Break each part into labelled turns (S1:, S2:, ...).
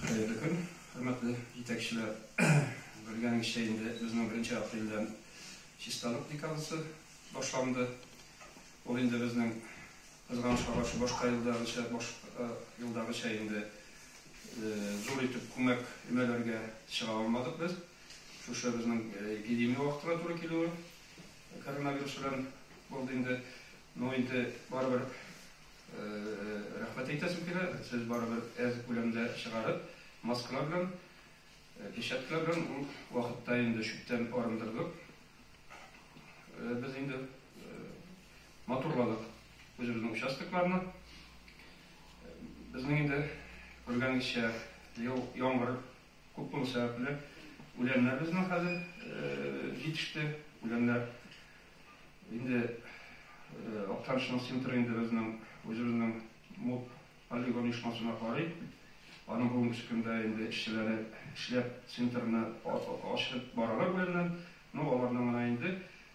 S1: Хәерле көн, хөрмәтле җитәкчеләр! Белгәнегезчә инде, безнең беренче апрельдән чисталык декадасы башланды. Ул инде безнең, кызганычка каршы, башка елдагыча, башка елдагыча инде зур итеп күмәк өмәләргә чыга алмадык без. Шушы безнең эпидемия вакытына туры килүе коронавирус белән булды инде. Но инде барыбер Рәхмәт әйтәсем килә, сез барыбер әз күләмдә чыгарып, маскалар белән, печатьлар белән ул вакытта инде чүптән арындырдык. Без инде матурладык үзебезнең участокларны. Безнең инде күргәнегезчә ел яңгыр күп булу сәбәпле, үләннәр безнең хәзер җитеште. Үләннәр Инде Актанышның центры инде безнең үзебезнең МУП полигон оешмасына карый. Аның бүгенге көндә инде эшчеләре эшләп центрны ачып баралар беләннән. Ну, аларның гына инде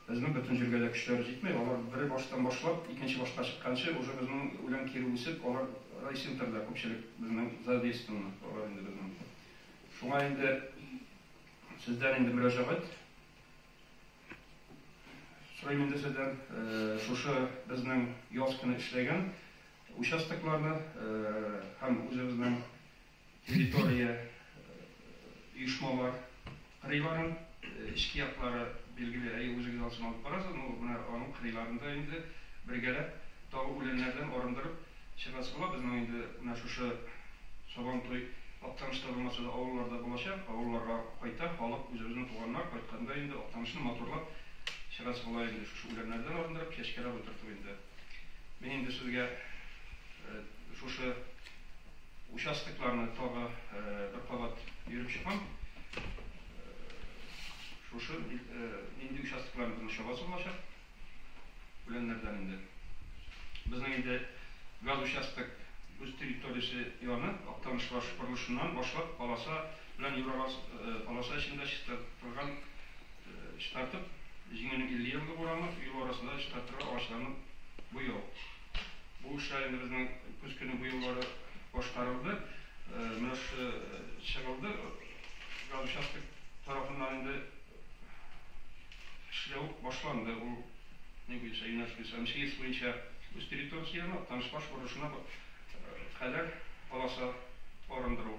S1: безнең бөтен җиргә дә көчләре җитми. Алар бер баштан башлап, икенче башка чыкканчы уже безнең үлән кире үсеп, алар райцентрда күпчелек безнең задействованы алар инде безнең. Шуңа инде сездән инде мөрәҗәгать. Сорыйм инде сездән, шушы безнең яз көне эшләгән участокларны һәм үзебезнең территория, оешмалар кырыйларын, эчке яклары, билгеле, әйе, үзегез аны алып барасыз, ну, менә аның кырыйларында инде бергәләп Тагы үләннәрдән арындырып чыгасы була. Безнең инде менә шушы Сабантуй Актаныш та булмаса да, авылларда булачак. Авылларга кайта халык, үзебезнең туганнар. Кайтканда инде Актанышны матурлап чыгасы була инде. Шушы үләннәрдән арындырып, чәчкәләп утырту инде. Мин инде сезгә шушы участокларны тагы бер кабат йөреп чыгам. Шушы нинди участокларны безнең чабасы булачак. Үләннәрдән инде. Безнең инде газ участок үз территориясе яны, Актаныш-Варш борылышыннан башлап, аласа белән Юралас аласа эчендә чистартылган чистартып, Җиңүнең 50 еллык урамы, юл арасында чистартырга агачларны буяу. Бу эшләр инде безнең көз көне бу юллары башкарылды. Менә шушы чыгылды газ участок тарафыннан инде. Эшләү башланды, ул ни буенча юнәлеш буенча, МЧС буенча үз территориясенә, Актаныш-Каш борылышына кадәр полоса арындыру.